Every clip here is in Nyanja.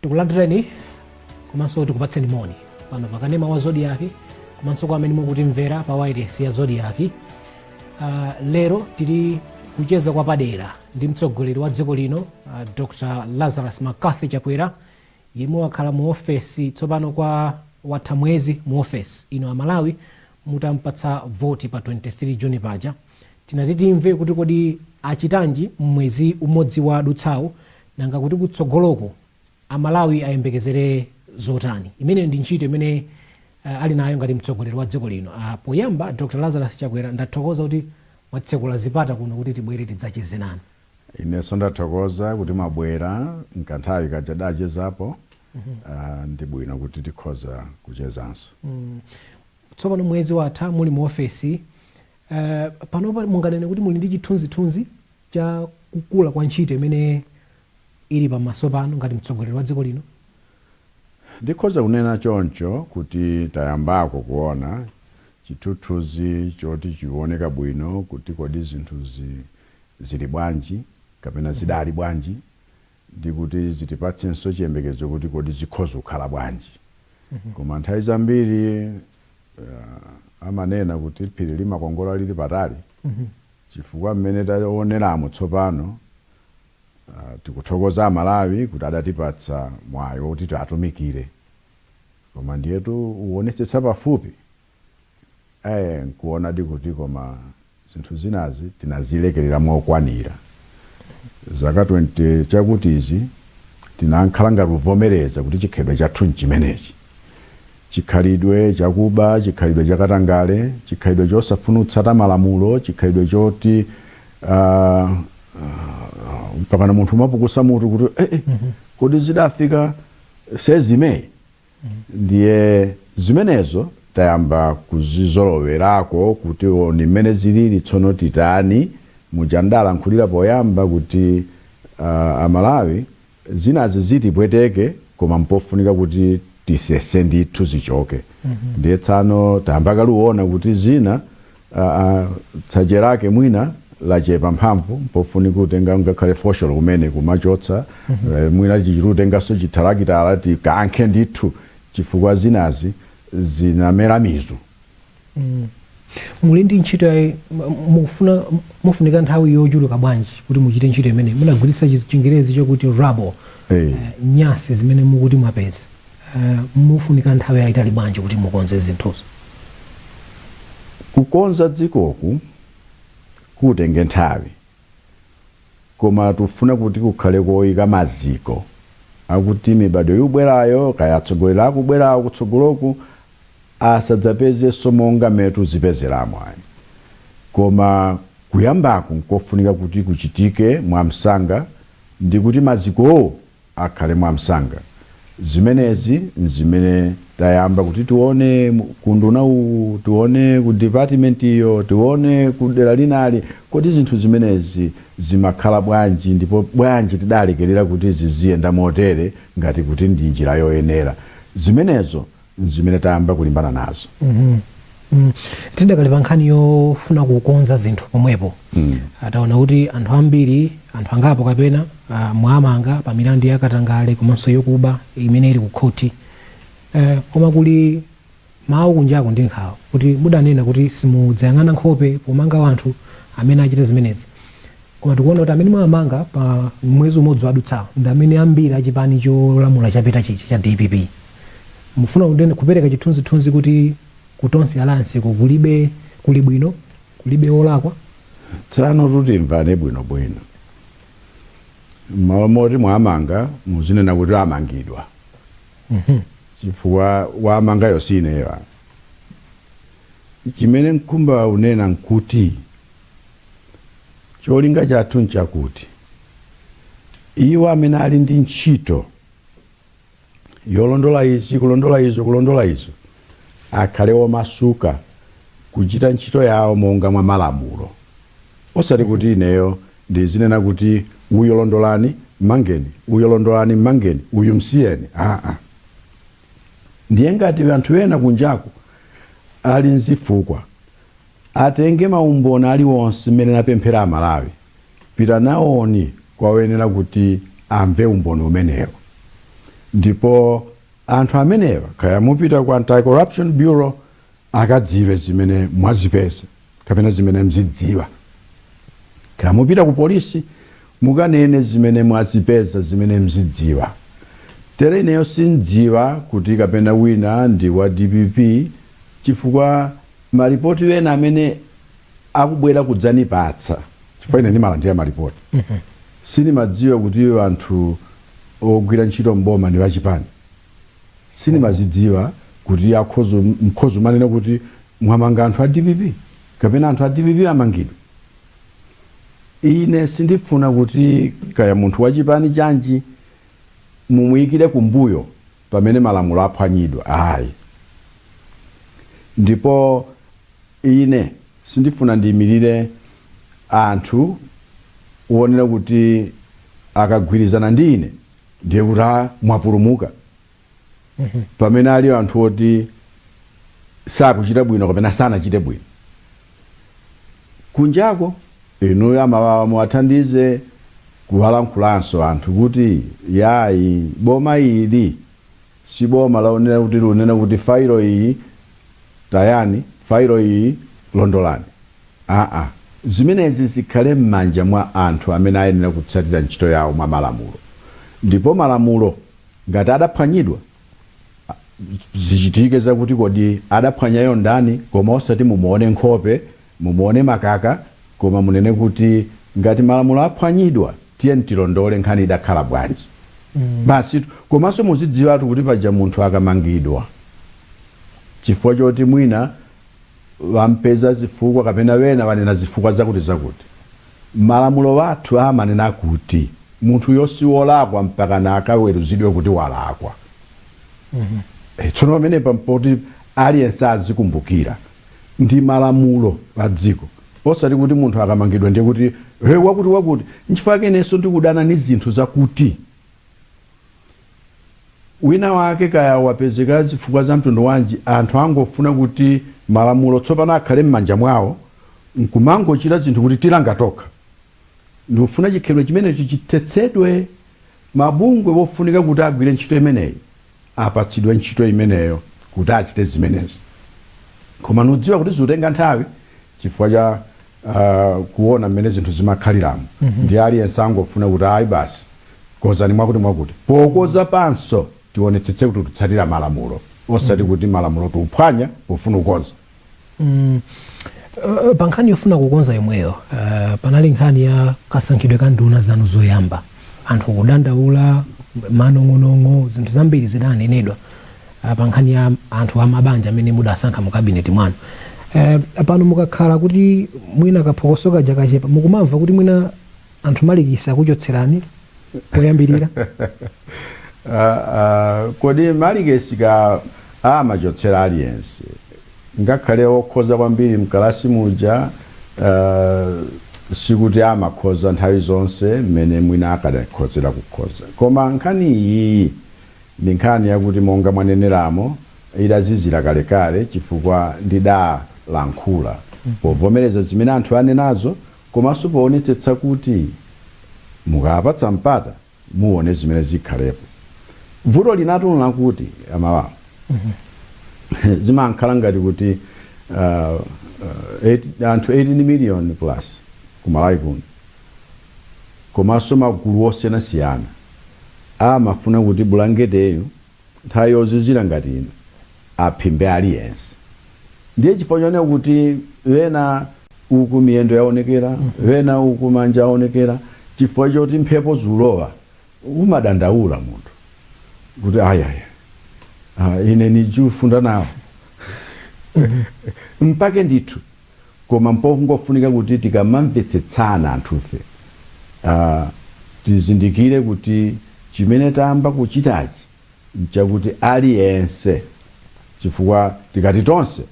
tikulandireni komanso tikupatseni moni pano pakanema wa zodiaki komanso kwa amene mukutimvera pa wairesi ya zodiaki uh, lero tili kucheza kwapadera ndi mtsogoleri wa dziko lino uh, dr lazarus mccarthy chakwera yemwe wakhala mu ofesi tsopano kwa, watha mwezi mu ofesi ino amalawi mutampatsa voti pa 23 juni paja tinati timve kuti kodi achitanji mmwezi umodzi wadutsawu nanga kuti kutsogoloko Amalawi ayembekezere zotani? Imeneyo ndi ntchito imene uh, ali nayo ngati mtsogoleri wa dziko lino. Uh, poyamba Dr. Lazarus Chakwera ndathokoza kuti mwatsekula zipata kuno kuti tibwere tidzacheze nanu. Inenso ndathokoza kuti mwabwera nkanthawi kaja dachezapo mm -hmm. uh, ndi bwino kuti tikhoza kuchezanso mm. Tsopano mwezi watha muli mu ofesi uh, panopa munganene kuti muli ndi chithunzithunzi cha kukula kwa ntchito imene ili pamaso panu ngati mtsogoleri wa dziko lino? Ndikhoza kunena choncho kuti tayambako kuona chithunzithunzi choti chioneka bwino kuti kodi zinthu zi, zili bwanji kapena zidali bwanji ndikuti zitipatsenso chiyembekezo kuti kodi zikhoza kukhala bwanji. Koma nthawi zambiri uh, amanena kuti phiri limakongola lili patali chifukwa mmene taoneramo tsopano Tikuthokoza amalawi kuti adatipatsa mwayi oti tiatumikire koma ndiyetu uonetsetsa pafupi ee nkuonadi kuti koma zinthu zinazi tinazilekelera mokwanira zaka 20 chakutizi tinakhala ngati uvomereza kuti chikhalidwe chathu nchimenechi. chikhalidwe chakuba, chikhalidwe cha katangale, chikhalidwe chosafuna kutsata malamulo, chikhalidwe choti uh, uh, mpakana munthu umapukusa mutu kuti eh, eh, kodi zidafika size imeneyi ndiye zimenezo tayamba kuzizolowerako kuti ndi mmene zilili tsono titani muja ndalankhulira poyamba kuti uh, amalawi zinazi zitipweteke koma mpofunika kuti tisese ndithu zichoke ndiye tsono tayamba kale uona kuti zina ah, ah, tsache lake mwina lachepa mphamvu mpofunika utenga ngakhale fosholo kumene kumachotsa eh, mwina ichichitu utenganso chithalakitala tikankhe ndithu chifukwa zinazi zinamera mizu Mm. Muli ndi ntchito ya mufuna mufunika nthawi yochuluka bwanji kuti muchite ntchito imene munagwiritsa chingerezi chakuti rubble. Eh. uh, eh, nyasi zimene mukuti mwapeza uh, eh, mufunika nthawi yayitali bwanji kuti mukonze zinthuzo kukonza dzikoku kutenge nthawi Koma tufuna kuti kukhale koika maziko akuti mibadwo yubwerayo, kaya atsogoleri akubwerawo kutsogoloku, asadzapezenso monga mmene tuzipezeramu ayi. Koma kuyambaku n'kofunika kuti kuchitike mwamsanga ndi kuti mazikowo akhale mwamsanga. Zimenezi n'zimene tayamba kuti tione ku unduna uwu, tione ku department iyo, tione ku dera linalo. Kodi zinthu zimenezi zimakhala bwanji ndipo bwanji tidalekerera kuti ziziyenda motere ngati kuti ndi njira yoyenera? Zimenezo n'zimene tayamba kulimbana nazo. Tidakali pa nkhani yofuna kukonza zinthu pomwepo, taona kuti anthu ambiri, anthu angapo kapena ah, mwamanga pa milandu ya katangale komanso yokuba imene ili ku khoti. Eh, Koma kuli mawu kunjaku ndi nkhawa kuti mudanena kuti simudzayang'ana nkhope pomanga wanthu amene achita zimenezi. Koma tikuona kuti amene mwamanga pa mwezi umodzi wadutsawo ndi amene ambiri achipani cholamula chapitachi cha cha DPP. mufuna kundene kupereka chithunzithunzi kuti ku Tonse Alliance-ko kulibe kuli bwino kulibe wolakwa tsano kuti timvane bwinobwino mmalo moti mwamanga, muzinena kuti amangidwa chifukwa wamangayo si ineyo apa chimene nkumba unena nkuti cholinga chathu nchakuti iwo amene ali ndi ntchito yolondola izi kulondola izo kulondola izo akhale omasuka kuchita ntchito yawo monga mwa malamulo osati kuti ineyo ndizinena kuti uyo londolani mmangeni uyo londolani mmangeni uyu msiyeni aa ndiye ngati anthu ena kunjaku ali nzifukwa Atenge maumboni aliwonse mmene napemphera amalawi pitanaoni kwa oyenera kuti amve umboni umenewo ndipo anthu amenewa kaya mupita ku anti corruption bureau akadziwe zimene mwazipeza kapena zimene mzidziwa kaya mupita ku polisi mukanene zimene mwazipeza zimene mzidziwa tere ineyo sindziwa kuti kapena wina ndi wa dpp chifukwa Malipoti ena amene akubwera kudzanipatsa chifukwa ine ndimalandira malipoti sindimadziwa kuti anthu ogwira ntchito m'boma ndi achipani sindimazidziwa kuti mkhoza kumanena kuti mwamanga anthu a dpp kapena anthu a dpp amangidwe ine sindifuna kuti kaya munthu wachipani chanji mumuikire kumbuyo pamene malamulo aphwanyidwa, ayi. Ndipo ine sindifuna ndiimirire anthu uonera kuti akagwirizana ndi ine ndiye kuti mwapulumuka pamene ali anthu oti sakuchita bwino kapena sanachite bwino. kunjako. Inuyo amawawa muwathandize kuwalankhulanso anthu kuti yayi boma ili siboma laonera kuti likunena kuti failo iyi tayani failo iyi londolani aa zimenezi zikhale mmanja mwa anthu amene ayenera kutsatira ntchito yawo mwa malamulo ndipo malamulo ngati adaphwanyidwa zichitike zakuti kodi adaphwanyayo ndani koma osati mumuone nkhope mumuone makaka koma munene kuti ngati malamulo aphwanyidwa tiyeni tilondole nkhani idakhala bwanji basi komanso muzidziwatu kuti paja munthu akamangidwa chifukwa choti mwina wampeza zifukwa kapena wena wanena zifukwa zakuti zakuti Malamulo athu amanena kuti munthuyo si wolakwa mpakana akaweruzidwe kuti walakwa. Eh, Tsono pamenepa mpoti aliyense azikumbukira ndi malamulo pa dziko osati kuti munthu akamangidwa ndiye kuti he wakuti wakuti nchifukwa chakenso ndikudana ni zinthu zakuti wina wake kaya wapezeka zifukwa za mtundu wanji anthu angofuna kuti malamulo tsopano akhale mmanja mwawo nkumangochita zinthu kuti tilanga tokha ndikufuna chikhalidwe chimenecho chithetsedwe mabungwe wofunika kuti agwire ntchito imeneyi apatsidwe ntchito imeneyo kuti achite zimenezi koma ndikudziwa kuti zikutenga nthawi chifukwa cha uh, kuona mmene zinthu zimakhaliramo mm -hmm. ndiye aliyense angofuna kuti ayi basi kozani mwakuti mwakuti pokonza ponso tionetsetse kuti tikutsatira malamulo osati mm -hmm. kuti malamulo tikuphwanya pofuna kukonza mm. Uh, pa nkhani yofuna kukonza yomweyo uh, panali nkhani ya kasankhidwe ka nduna zanu zoyamba anthu kudandaula manong'onong'o zinthu zambiri zidanenedwa ah, pa nkhani ya anthu amabanja amene mudasankha mu kabineti mwanu eh, pano mukakhala kuti mwina kaphokoso kaja kachepa mukumamva kuti mwina anthu malikisi akuchotserani poyambirira Ah, ah, kodi malikisi ka amachotsera aliyense Ngakhale wokhoza kwambiri mkalasi muja sikuti amakhoza nthawi zonse mmene mwina akadakhozera kukhoza. Koma nkhani iyiyi ndi nkhani yakuti monga mwaneneramo idazizira kalekale chifukwa ndidalankhula povomereza zimene anthu anenazo komanso poonetsetsa kuti mukawapatsa mpata, muone zimene zikhalepo vuto linatu ndi lakuti amalawi zimankhala ngati kuti uh, uh, eight- anthu 18 million plus kumalawi kuno komanso magulu osiyanasiyana amafuna kuti bulangeteyo Nthawi yozizira ngati ino aphimbe aliyense ndiye chifukwa chonena kuti wena uku miyendo yaonekera wena uku manja aonekera chifukwa choti mphepo zulowa umadandaula munthu kuti ayaya ah, ine sindikufunda nawo mpake ndithu koma mpongofunika kuti tikamamvetsetsana anthufe aah tizindikire kuti chimene tayamba kuchitachi nchakuti aliyense chifukwa tikati tonse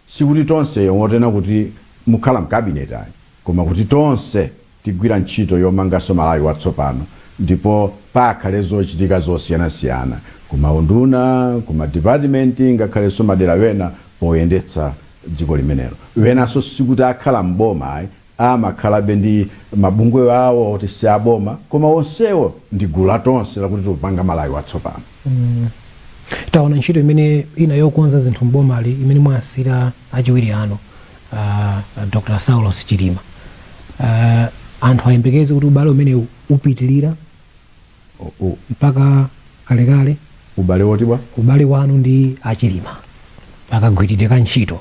sikuti tonse yongonena kuti mukhala mcabinet ayi koma kuti tonse Tigwira ntchito yomanganso Malawi watsopano ndipo pakhale zochitika zosiyanasiyana ku maunduna, ku madipatimenti ngakhalenso madera ena poyendetsa dziko limenelo. Enanso sikuti akhala m'boma ayi, amakhalabe ndi mabungwe awo oti si aboma koma onsewo ndi gulu la Tonse lakuti tipanga Malawi watsopano. Taona ntchito imene ina yokonza zinthu m'bomali imene mwawasiira achiwiri anu. uh, dr saulos chilima uh, anthu ayembekeze kuti ubale umene upitilira O- o- mpaka kalekale ubale wotibwa ubale wanu ndi achilima pakagwiridwe ka ntchito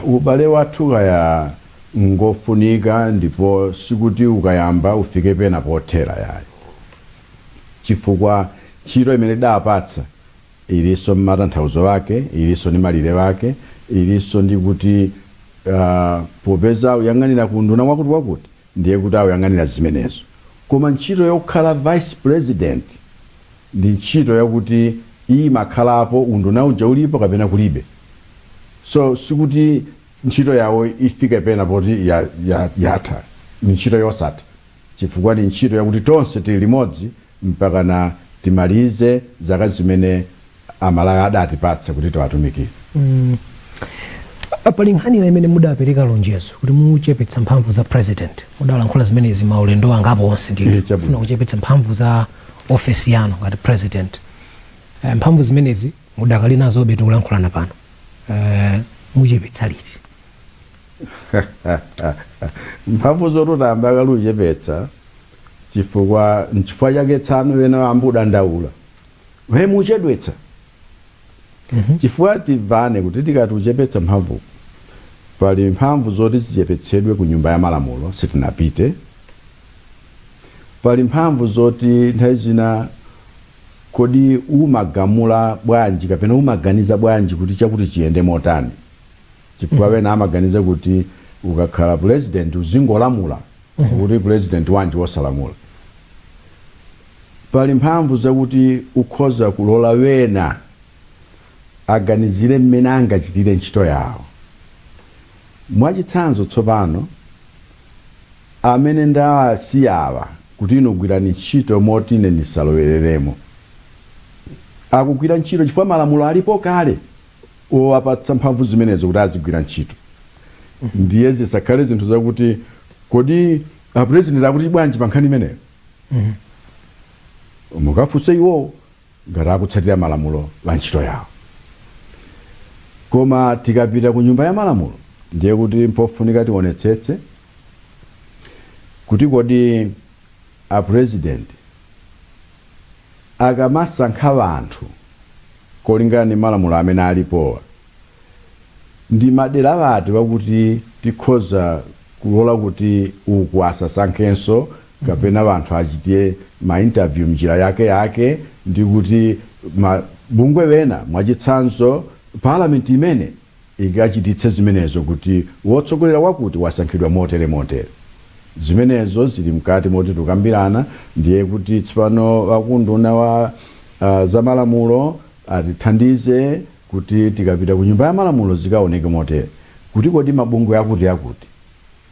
ubale wathu kaya ngofunika ndipo sikuti ukayamba ufike pena pothera yayi chifukwa ntchito imene ndawapatsa Ilinso ndi matanthauzo ake, ilinso ndi malire ake, ilinso ndi kuti, uh, popeza akuyang'anira ku unduna wakutiwakuti, ndiye kuti akuyang'anira zimenezo. Koma ntchito yokhala vice president ndi ntchito yakuti imakhalapo unduna uja ulipo kapena kulibe. So sikuti ntchito yawo ifike pena poti ya, ya, yatha. Ndi ntchito yosatha. chifukwa ni ntchito yakuti tonse tili limodzi mpakana timalize zaka zimene Amalawi adatipatsa kuti tiwatumikire. Ah, pali nkhani ina imene mudapereka lonjezo kuti muchepetsa mphamvu za president mudalankhula zimenezi maulendo angapo onse Eh, ndithu chabwino. kufuna kuchepetsa mphamvu za ofesi yanu ngati president Eh, mphamvu zimenezi mudakali nazobe tikulankhulana pano Eh, muchepetsa liti mphamvu zoti tayamba kale kuchepetsa chifukwa nchifukwa chake tsano wena ayamba kudandaula eh mukuchedwetsa chifukwa timvane kuti tikati kuchepetsa mphamvu pali mphamvu zoti zichepetsedwe ku nyumba ya malamulo sitinapite pali mphamvu zoti nthawi zina kodi umagamula bwanji kapena umaganiza bwanji kuti chakuti chiyende motani chifukwa mm. wena amaganiza kuti ukakhala president uzingolamula mm -hmm. kuti president wanji wosalamula pali mphamvu zakuti ukhoza kulola wena aganizire mmene angachitire ntchito yawo mwachitsanzo tsopano amene ndawasiyawa kuti inu gwirani ntchito moti ine ndisalowereremo akugwira ntchito chifukwa malamulo alipo kale wowapatsa mphamvu zimenezo kuti azigwira ntchito ndiye zisakhale zinthu zakuti kodi apurezidenti akuti bwanji pa nkhani imeneyo mukafunse iwowo ngati akutsatira malamulo a ntchito yawo koma tikapita ku nyumba ya malamulo ndiye kuti mpofunika tionetsetse kuti kodi a president akamasankha anthu kolingana ndi malamulo amene alipowa ndi madera ati wakuti tikhoza kulola kuti uku asasankhenso kapena anthu achite ma interview mnjira yake yake ndi kuti mabungwe wena mwachitsanzo parliament imene ikachititse zimenezo kuti wotsogolera wakuti wasankhidwa motere motere. Zimenezo zili mkati moti tukambirana, ndiye kuti tsopano a ku unduna wa a, zamalamulo atithandize kuti tikapita ku nyumba ya malamulo zikaoneke motere kuti kodi mabungwe akuti akuti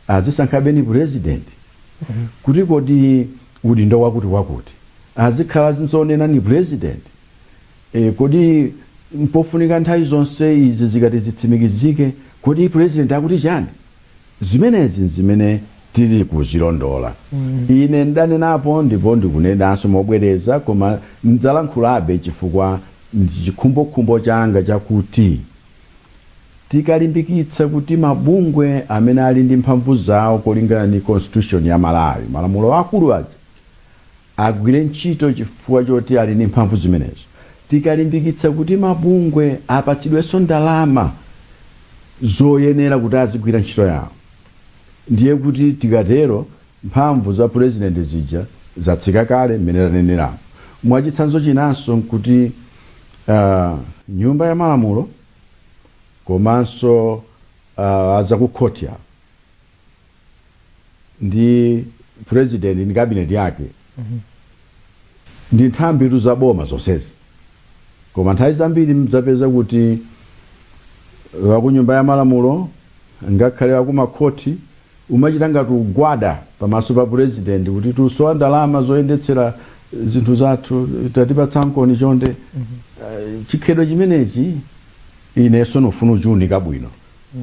azisankhabe ni purezidenti kuti kodi udindo wakuti wakuti azikhala zonena ni purezidenti E, kodi mpofunika nthawi zonse izi zikati zitsimikizike? Kodi Purezidenti akuti chani? Zimenezi n'zimene tili kuzilondola. Ine n'danenapo ndipo ndikunenanso mobwereza koma n'dzalankhulabe chifukwa ndi chikhumbokhumbo changa chakuti tikalimbikitsa kuti mabungwe amene ali ndi mphamvu zawo kolingana ndi Constitution ya Malawi, malamulo akulu aja, agwire ntchito chifukwa choti ali ndi mphamvu zimenezo. Tikalimbikitsa kuti mabungwe apatsidwenso ndalama zoyenera kuti azigwira ntchito yawo, ndiye kuti tikatero mphamvu za pulezidenti zija zatsika kale mmene taneneramu. Mwachitsanzo chinanso n'kuti nyumba ya malamulo komanso a zakukhoti awa, ndi president ndi cabinet yake ndi nthambitu za boma zonsezi koma nthawi zambiri mdzapeza kuti wakunyumba ya malamulo ngakhale wakumakhoti umachita ngati ugwada pamaso pa president kuti tusowa ndalama zoyendetsera zinthu zathu tatipatsankoni chonde Eh, chikhalidwe chimenechi ineso ndifuna kuchiunika bwino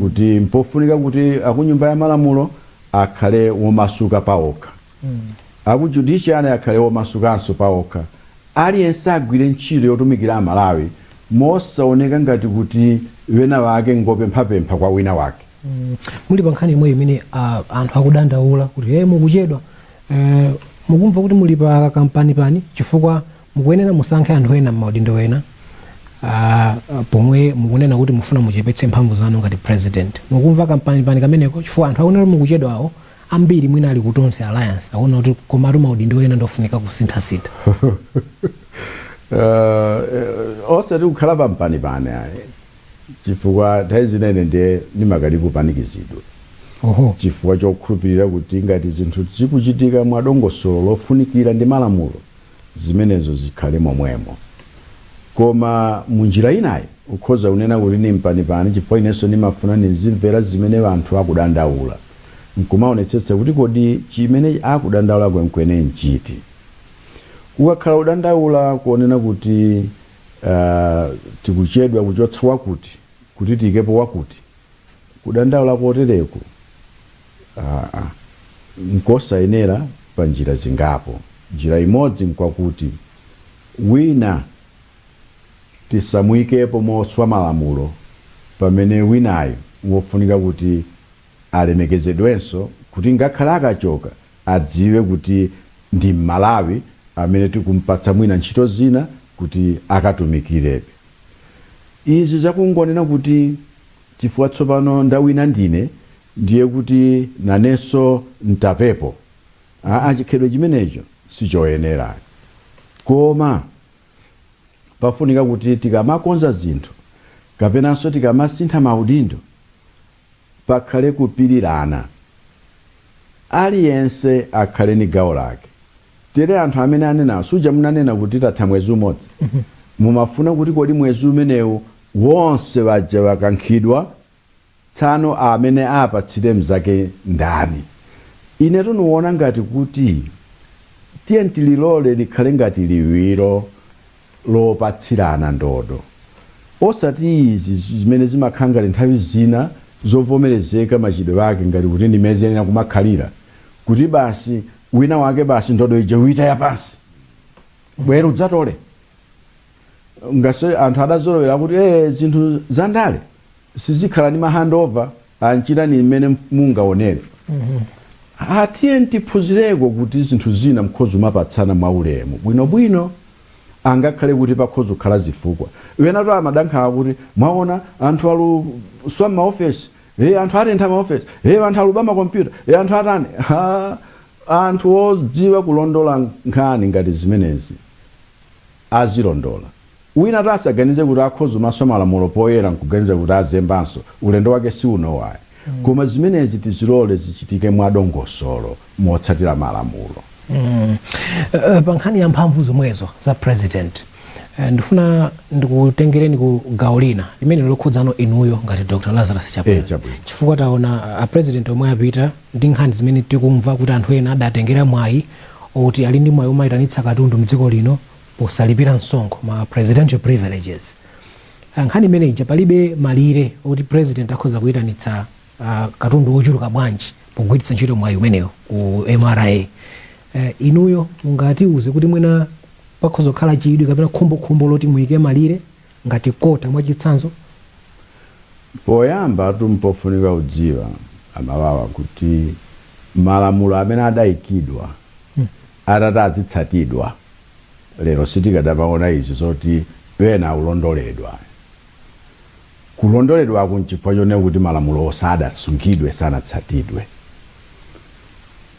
kuti mpofunika kuti akunyumba ya malamulo akhale womasuka paokha. Aku judiciary akhale womasukanso paokha. Aliyense agwire ntchito yotumikira Amalawi mosaoneka ngati kuti wena wake ngopemphapempha kwa wina wake. Mm. Muli pa nkhani imweyi imene ah, anthu akudandaula kuti hey, mukuchedwa eh, mukumva kuti muli pa kampanipani chifukwa Mukuyenera musankhe anthu ena mmaudindo ena pomwe mukunena kuti mufuna muchepetse mphamvu zanu ngati president. Mukumva kampanipani kameneko chifukwa anthu akuona kuti mukuchedwawo ambiri mwina ali ku Tonse Alliance akuona kuti komatu maudindo ena ndofunika kusinthasintha. Uh, osati kukhala pampanipani ayi chifukwa nthawi zina ine ndiye ndimakana kupanikizidwa Oho. chifukwa chokhulupirira kuti ngati zinthu zikuchitika mwadongosolo lofunikira ndi malamulo zimenezo zikhale momwemo. Koma mu njira inayi ukhoza kunena kuti ni mpanipani chifukwa inenso nimafuna nizimvera zimene anthu akudandaula, n'kumaonetsetsa kuti kodi chimene akudandaula kwenikweni n'chiti. Kukakhala kudandaula konena kuti aah tikuchedwa kuchotsa wakuti kuti tiikepo wakuti, kudandaula kotereko. Aa, nkosayenera panjira zingapo. Njira imodzi nkwakuti wina tisamuikepo moswa malamulo pamene winayo n'wofunika kuti alemekezedwenso kuti ngakhale akachoka adziwe kuti ndi m'Malawi amene tikumpatsa mwina ntchito zina kuti akatumikirebe. Izi zakungonena kuti chifukwa tsopano ndawina ndine Ndiye kuti nanenso n'tapepo? Aa, chikhalidwe chimenecho sichoyenera. Koma pafunika kuti tikamakonza zinthu kapenanso tikamasintha maudindo, pakhale kupirirana. Aliyense akhale ni gawo lake. Tere anthu amene anena, suja munanena kuti tatha mwezi umodzi? Mumafuna kuti kodi mwezi umenewu wonse waja wakankhidwa Tsano amene apatsire mzake ndani? Inetu nuona ngati kuti tiyeni tilole likhale ngati liwiro lopatsirana ndodo osati izi zimene zimakhala ngati nthawi zina zovomerezeka machitidwe ake ngati kuti ndi mmene ziyenera kumakhalira kuti basi wina wake basi ndodo ija uitaya pansi, bwera udzatole. ngatiso anthu adazolowera kuti eh zinthu za ndale sizikhala ndi ma handover amachita ndi mmene mungaonere atiye tiphunzireko kuti zinthu zina nkhoza kumapatsana mwaulemu bwinobwino angakhale kuti pakhoza kukhala zifukwa winatu asadandaule kuti mwaona anthu akuswa maofesi e anthu atentha maofesi e anthu akuba makompyuta e anthu atani ha, anthu odziwa kulondola nkhani ngati zimenezi azilondola. Winatu asaganize kuti akhoza kumaswa malamulo poyera nkuganiza kuti azembanso, ulendo wake si uno ayi. Koma zimenezi tizilole zichitike mwadongosolo motsatira malamulo. Pa nkhani ya mphamvu zomwezo za president, ndifuna ndikutengereni ku gawo lina limene likukhudzano inuyo ngati Dr Lazarus Chakwera chifukwa taona a president omwe apita ndi nkhani zimene tikumva kuti anthu ena adatengera mwayi oti ali ndi mwayi omaitanitsa katundu mdziko lino posalipira msonkho, ma presidential privileges. Nkhani imene ija palibe malire oti president akhoza kuitanitsa katundu wochuluka bwanji pogwiritsa ntchito mwayi umenewo ku mra. Inuyo mungatiuze kuti mwina pakhoza kukhala chidwi kapena khumbokhumbo loti muike malire ngati kota mwachitsanzo? Poyambatu mpofunika kudziwa aMalawi kuti malamulo amene adaikidwa atati adzitsatidwa lero sitikadamaona izi zoti wena akulondoledwa ayi. Kulondoledwaku nchifukwa chonena kuti malamulowo sadasungidwe, sanatsatidwe.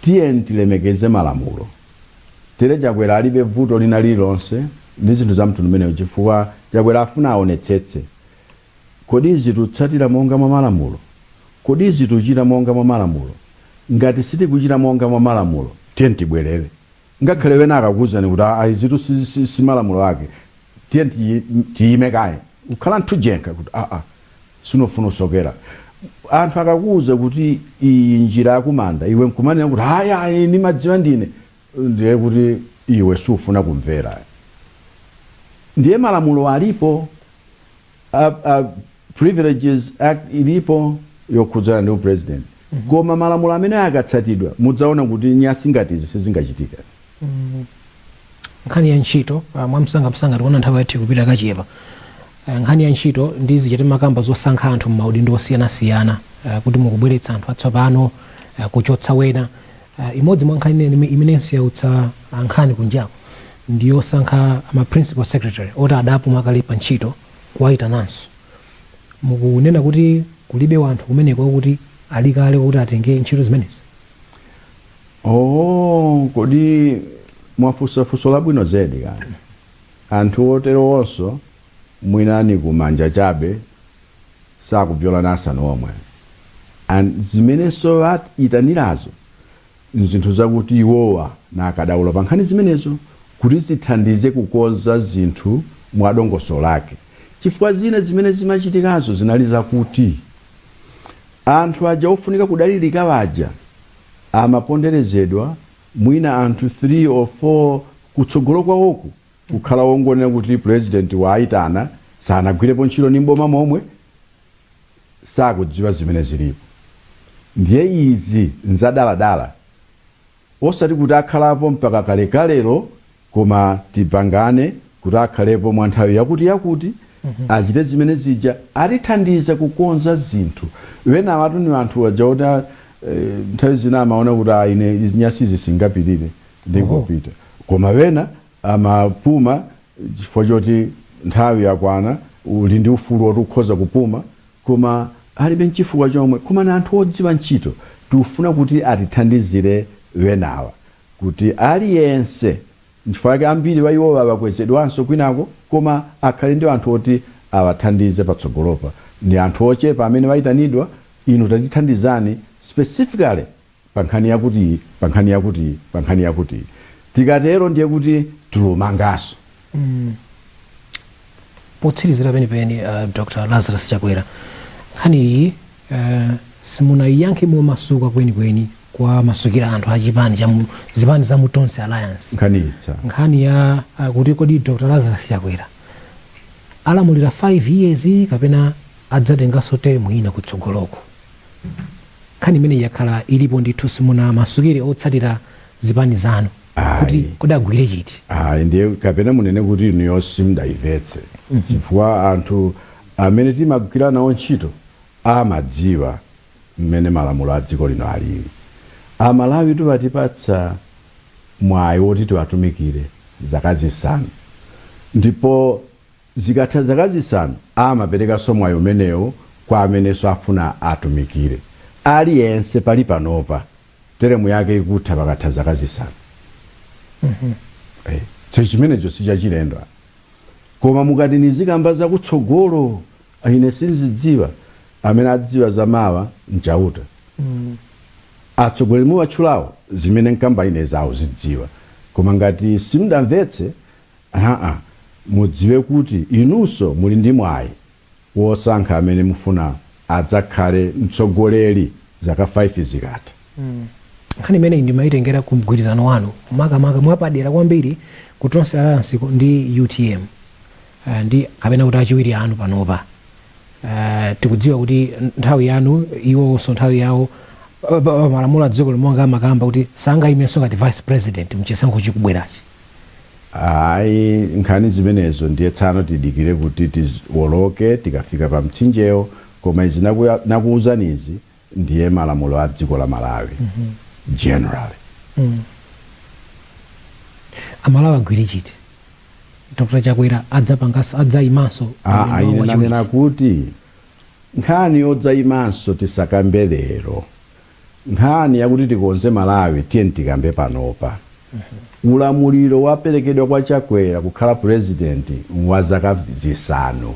Tiyeni tilemekeze malamulo Tere Chakwera alibe bvuto lina lililonse ndi zinthu za mtundu umenewu chifukwa Chakwera afuna aonetsetse Kodi izi tutsatira monga mwa malamulo? Kodi izi tuchita monga mwa malamulo? Ngati sitikuchita monga mwa malamulo tiyeni tibwerere. Ngakhale wena akakuuzani kuti aa izitu si si si malamulo ake tiyeni tiyime kaye, kukhala nthu njenkha kuti aa Sinofuna usokera. Anthu akakuuza kuti iyi njira yakumanda iwe nkumanena kuti ayi ayi ndimadziwa ndine ndiye kuti iwe sufuna kumvera. Ndiye malamulo alipo a, a Privileges Act ilipo yokhudzana ndi upresident. Koma malamulo amenewo akatsatidwa mudzaona kuti nyasi ngati izi sizingachitika. nkhani ya ntchito ah, mwamsangamsanga tikuona nthawi yathu ikupita kachepa Ah, nkhani ya ntchito ndi zija timakamba zosankha anthu m'maudindo osiyanasiyana ah, kuti mukubweretsa anthu atsopano ah, kuchotsa wena Ah, imodzi mwa nkhani imene- imenenso yautsa ah, nkhani kunjako ndi yosankha ma principal secretary oti adapuma kale pa ntchito kuwayitananso mukunena kuti kulibe wanthu kumeneko oti ali kale kuti atenge ntchito zimenezi Oooh kodi mwafusa fuso labwino zedi kaya anthu oterowonso mwina nikumanja chabe sakubzyola nasanu nomwe and zimenenso aitanirazo nzinthu zakuti iwowa n'akadaulo pankhani zimenezo kuti zithandize kukonza zinthu mwadongoso lake chifukwa zina zimene zimachitikazo zinali zakuti anthu aja ofunika kudalilika aja amaponderezedwa, mwina anthu 3 or 4 kutsogolo kwawoku kukhala ongonena kuti pulezidenti waitana, sanagwirepo ntchito ndi m'boma nomwe, sakudziwa zimene zilipo. Ndiye izi nzadaladala, osati kuti akhalapo mpaka kalekalelo koma tipangane kuti akhalepo mwa nthawi yakutiyakuti, achite zimene zija, atithandiza kukonza zinthu. Enawatu ni anthu aja oti a, eh, nthawi zina amaona kuti ah, ine izi- nyasizi singapirire ndingopita, koma wena amapuma chifukwa choti nthawi yakwana, uli ndi ufulu woti ukhoza kupuma koma alibe nchifukwa nomwe, koma ni anthu odziwa ntchito tikufuna kuti atithandizire wenawa. kuti aliyense, nchifukwa chake ambiri wa iwowa akwezedwanso kwinako, koma akhale ndi anthu oti awathandize patsogolopa. Ndi anthu ochepa amene waitanidwa, inu tatithandizani specifically pa nkhani yakutiyi, pa nkhani yakutiyi, pa nkhani yakutiyi. Tikatero ndiye kuti tilumanganso. potsirizira penipeni uh, dr lazarus chakwera nkhani iyi uh, simunayiyankhe momasuka kwenikweni kuwamasukira anthu a chipani cha mu- zipani za mutonse alliance nkhani ya nkhani ya uh, kuti kodi dr lazarus chakwera alamulira 5 years kapena adzatenganso termu ina kutsogoloko nkhani imene yakhala ilipo ndithu simunawamasukire otsatira zipani zanu kuti Ayi. kodi agwire chiti ayi ndiye kapena munene kuti inuyo simudayimvetse chifukwa anthu amene timagwira nawo ntchito amadziwa mmene malamulo a dziko lino alili amalawi atipatsa mwayi woti tiwatumikire zaka zisanu ndipo zikatha zaka zisanu amaperekanso mwayi umenewo kwa amenenso afuna atumikire aliyense pali panopa teremu yake ikutha pakatha zaka zisanu Eh, so chimenecho sichachilendo apa. koma mukati nizikamba zakutsogolo ine sinzidziwa amene adziwa za mawa nchauta atsogoleri muwatchulawo zimene nkamba ine iwo azidziwa koma ngati simudamvetse aa mudziwe kuti inunso muli ndi mwayi wosankha amene mufuna adzakhale mtsogoleri zaka 5 zikatha? Nkhani imeneyi ndimaitengera ku mgwirizano wanu makamaka mwapadera kwambiri ku Tonse Alliance ku- ndi utm Ah, ndi kapena kuti achiwiri anu panopa Ah, tikudziwa kuti nthawi yanu iwonso nthawi yawo pa- pa- pa malamulo a dziko lino amakamba kuti sangaimenso ngati vice president mchisankho chikubwerachi ayi nkhani zimenezo ndiye tsano tidikire kuti tiwoloke tikafika pa mtsinjewo koma izi nakuya- nakuwuzani izi ndiye malamulo a dziko la malawi generally amalawi agwire chiti dr chakwera adzapanganso adzayimanso Ah, ine nanena kuti nkhani yodzayimanso tisakambe lero Nkhani yakuti tikonze Malawi tiyeni tikambe panopa. Ulamuliro waperekedwa kwa Chakwera kukhala President nwa zaka zisanu.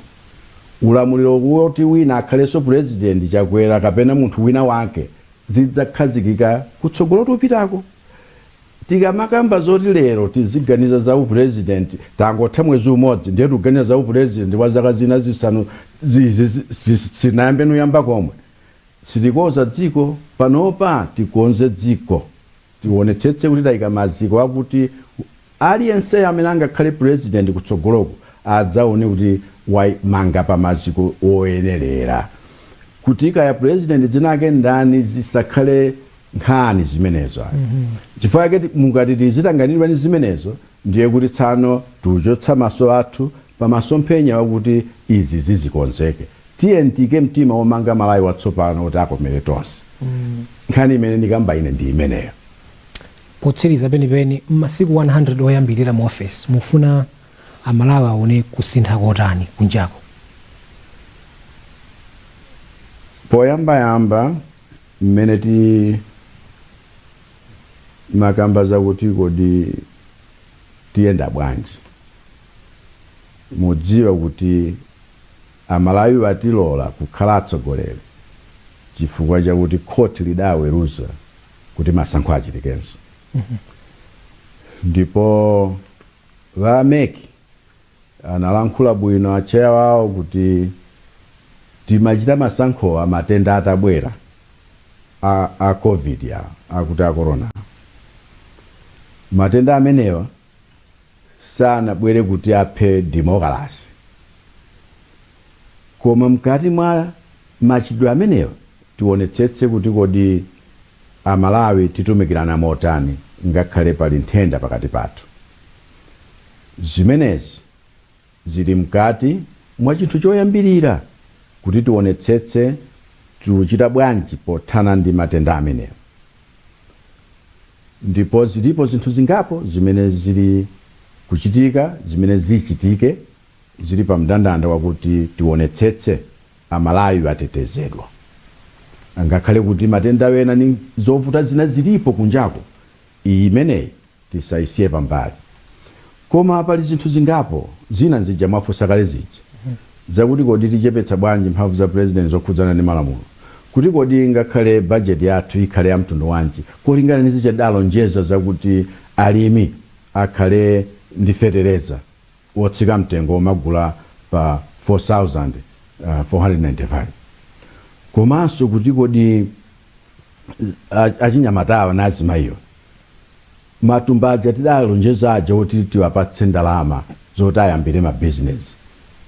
Ulamuliro woti wina akhalenso President, Chakwera kapena munthu wina wake, zidzakhazikika kutsogolo tupitako. Tikamakamba zoti lero tiziganiza za u President tangotha mwezi umodzi ndiye tiganiza za u President wa zaka zina zisanu izi sitinayambe n'kuyamba komwe. Sitikonza dziko, panopa tikonze dziko. Tionetsetse kuti taika maziko akuti aliyenseyo amene angakhale president kutsogoloku adzaone kuti wamanga pa maziko oyenelera. Kuti kaya president dzinake ndani zisakhale nkhani zimenezo ayi. Chifukwa chake mukati tizitanganidwa ndi zimenezo ndiye kuti tsano tikuchotsa maso athu pa masomphenya wakuti izi zizikonzeke. Tiyeni tiike mtima womanga Malawi watsopano woti akomere tonse. Nkhani imene ndikamba ine ndi imeneyo. Potsiriza penipeni, m'masiku 100 oyambirira mu ofesi, mufuna Amalawi aone kusintha kotani kunjako? Poyambayamba mmene timakamba zakuti kodi tiyenda bwanji, mudziwa kuti Amalawi watilola kukhala atsogoleri chifukwa chakuti khoti lidaweruza kuti masankho achitikenso ndipo a mec analankhula bwino acheya wawo kuti timachita masankhowa matenda atabwera a covid ya akuti a corona awa. matenda amenewa sanabwere kuti aphe demokalase. Koma mkati mwa machitidwe amenewa tionetsetse kuti kodi a Malawi titumikirana motani ngakhale pali nthenda pakati pathu. Zimenezi Ziri mkati mwa chinthu choyambirira kuti tiwonetsetse tikuchita bwanji pothana ndi matenda amenewa. Ndipo ziripo zinthu zingapo zimene ziri kuchitika, zimene zichitike, ziri pa mndandanda wakuti tiwonetsetse Amalawi atetezedwa. Angakhale kuti matenda ena ni zovuta zina ziripo kunjako, iyi imeneyi tisaisiye pambali. Koma pali zinthu zingapo, zina nzija mwafunsa kale zija, zakuti kodi tichepetsa bwanji mphamvu za President zokhudzana ndi malamulo, kuti kodi ngakhale budget yathu ikhale ya mtundu wanji kulingana ndi zija tidalonjeza zakuti alimi akhale ndi fetereza wotsika mtengo womagula pa 4495 komanso kuti kodi achinyamatawa ndi azimayiwa. matumba aja tidalonjeza aja oti tiwapatse ndalama zoti ayambire ma business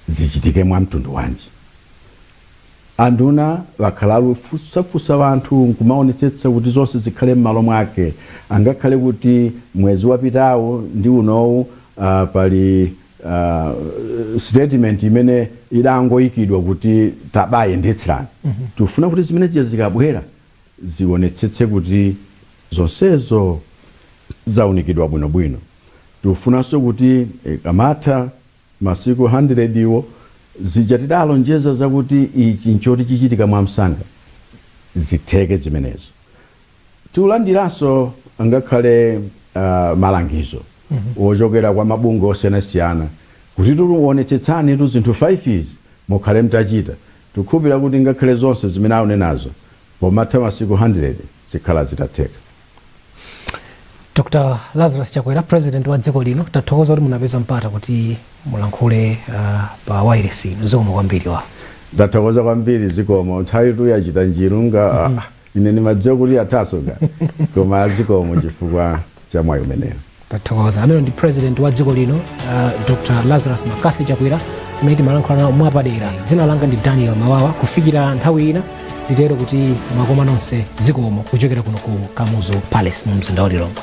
zichitike mwa mtundu wanji? Anduna wakhala alufunsafunsa wanthu nkumaonetsetsa kuti zonse zikhale mmalo mwake angakhale kuti mwezi wapitawu ndi unowu uh, pali uh, statement imene idangoyikidwa kuti tabayendetserani mm -hmm. tifuna kuti zimene zija zikabwera zionetsetse kuti zonsezo zaunikidwa bwinobwino. Tikufunanso kuti ikamatha masiku handirediwo, zija tidalonjeza zakuti ichi nchoti chichitika mwamsanga, zitheke zimenezo. Tikulandiranso angakhale malangizo ochokera kwa mabungwe osiyanasiyana kuti onetsetsanitu zinthu 5 izi mukhale mutachita. Tikukhulupirira kuti ngakhale zonse zimene akunenazo, pomatha masiku handiredi zikhala zitatheka. Dr Lazarus Chakwera, President wa dziko lino, tathokoza kuti munapeza mpata kuti mulankhule uh, pa wailesi ino. Zikomo kwambiri wa. Ndathokoza kwambiri, zikomo. Nthawitu yachita njiru nga Ine ndimadziwa kuti athaso ka koma zikomo chifukwa cha mwayi umenewo. tathokoza amene ndi president wa dziko lino uh, dr lazarus mccarthy chakwera amene timalankhula nawo mwapadera dzina langa ndi daniel mababa kufikira nthawi ina nditero kuti mwakoma nonse zikomo kuchokera kuno ku kamuzu palace mu mzinda wa lilongwe